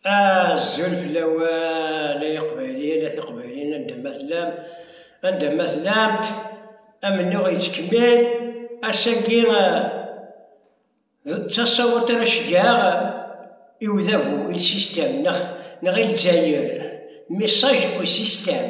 Azul fell-awen ay iqbayliyen a tiqbayliyin anda ma tellam anda ma tellamt amennuɣ yettkemmil ass-agi eh, d tasawut ara ceggeɣ i udabu il système neɣ neɣ i lezzayer message au système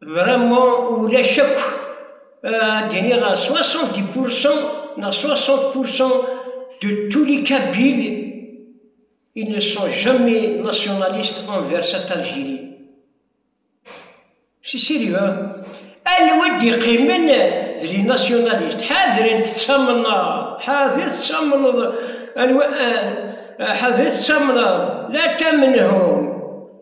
Vraiment, ulac akk d-iniɣ 70% neɣ 60% de tous les Kabyles ils ne sont jamais nationalistes envers cette Algérie. C'est sérieux. Anwa d-iqimen d les nationalistes ḥadren tettamneḍ ḥadret tettamneḍ anwa ḥadret tettamneḍ la tamenhum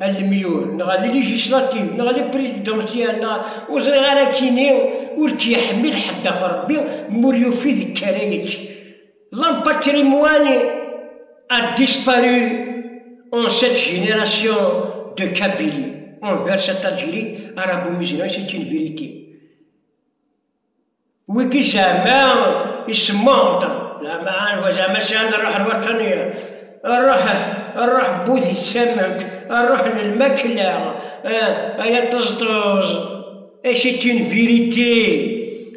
alemyur neɣ a ligislativ neɣ a lipridansyal neɣ ur ẓriɣ ara kini ur k-yeḥmil ḥedd ɣef Rebbi mi ur yufi deg ara yekk. L'empatrimoine a disparu en cette génération de Kabylie envers cette Algérie arabo-musulmane, c'est une vérité. Wigi zama isemmaḍ-d, zama anwa zama sɛan rruḥ n waṭṭani, rruḥ, rruḥ n wudi ssament, rruḥ n lmakla, ay aṭeẓṭeẓ, et c'est une vérité,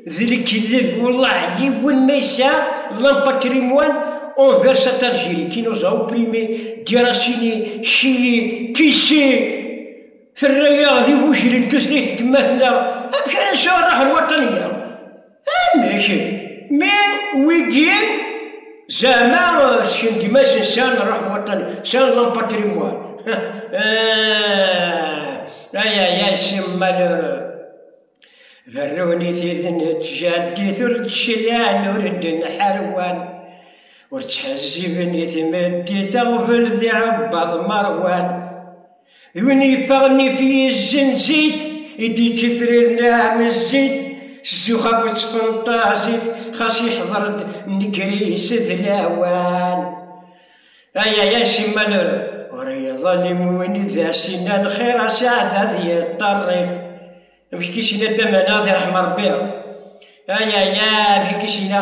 d lekdeb, wellah yiwen ma yesɛa l'empatrimoine envers cette Algérie qui nous a opprimés, déracinés, chiés, pissés, Terra-yaɣ d igujlen tutlayt n temmat-nneɣ, amek ara nesɛu rruḥ n waṭṭan-agi? Amek? Mi wigin zeɛma sken gma-sen sɛan rruḥ n waṭṭan, sɛan l'empatrimoine. Ah, ay ay ay, ces malheureux. Berrunit-it n tjaddit ur d-cliɛen, ur d-nḥarwan, ur ttḥezziben i tmeddit aɣbel d iɛebbaḍ meṛwan. D win yeffaɣen if yizzen zit i d-yečč ifrir n ɛmezzit s zzux akked tfenṭazit xas yeḥḍer-d nnger-is d lawan ay ay ay simmal ur iḍellim win d as-inna lxir asaɛd ad yeṭṭerrif amek k as-inna dda Manaɣ di ṛeḥma Ṛebbi ay ay ay amek k as-inna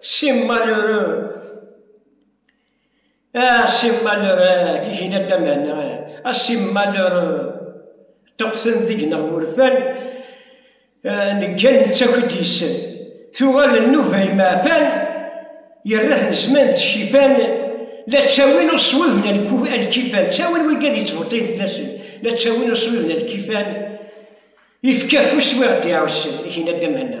Ces malheureux! Ah, ces malheureux! Kigina damana, ah, ces malheureux! Ṭṭuqten deg-neɣ wurfan, ah, neggan nettaki-d yes-sen. Tuɣal nnuba imeɛfan, yerra-ten zzman d ccifan, la ttawin uṣwib n lkifan, ttawin wigi ad yettbeṭṭin fell-asen, la ttawin uṣwib n lkifan, ifka afus wi ɣ-d-iɛussen, kigina damana.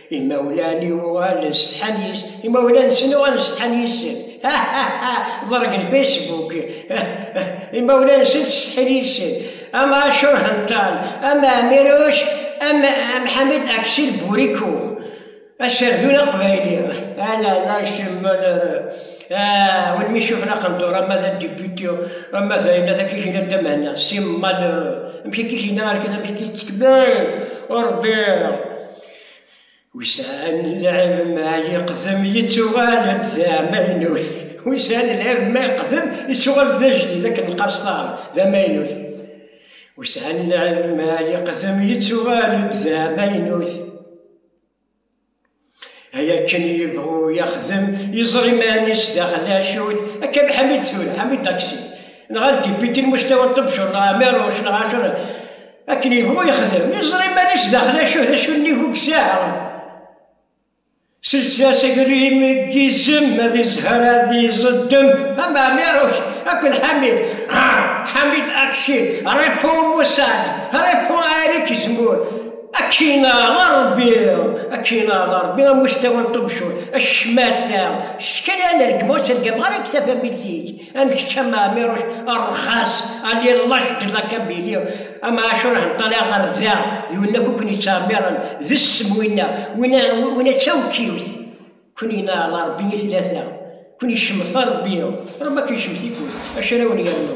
Imawlan-iw uɣalen setḥan yis Imawlan-nsen uɣalen setḥan yis-sen. Ḍergen Facebook. Imawlan-nsen setḥan yis-sen. Am Acur Hental, am Amiruc, am Mḥamed Aksir Buriko. Aserdun aqbayli. Ala, la cemmal ara. Win mi cufen aqendur, ama d adibiti, ama d ayen atak ikina damana. Simmal ara. Amek akka ikina arkan, amek akka tettekbir. Ur bbiɣ. Wisan lɛib ma yeqdem yettuɣal-d d amaynut. Wisan lɛib ma yeqdem yettuɣal-d d ajdid akken lqaṣṭar d amaynut. Wisan lɛib ma yeqdem yettuɣal-d d amaynut. Ay akken yebɣu yexdem yeẓra iman-is d axlacut akka Ḥamid tura, Ḥamid Taksi. Nɣan dipiti n Mustawa Ṭebcur neɣ Ɛmiruc neɣ Ɛacur Akken yebɣu yexdem, iẓra iman-is daxel acu d acu nnig ugsaɛ. Sels-as agrim deg yizem, ad izher ad iẓeddem. Ama Amiruc akked Ḥamid. Ḥamid Aksi, répond Moussad, répond Eric Zemmour. Akin a Ṛebbi, akin a Ṛebbi, a Mustawa n Ṭubcur, a ccmata, kečč kan a nergem, ur tergameɣ ara deg tafamilt-ik. Am kečč am Ɛmiruc rxas ali llac d lakabili am Ɛacur henṭali ɣer da d win akk ken yettɛemmiren d ssem winna winna winna d tawkiwt ken yenaɛel Rebbi i tlata ken yecmet Rebbi Rebbi ad ken-yecmet-iken acu ara wen-yernu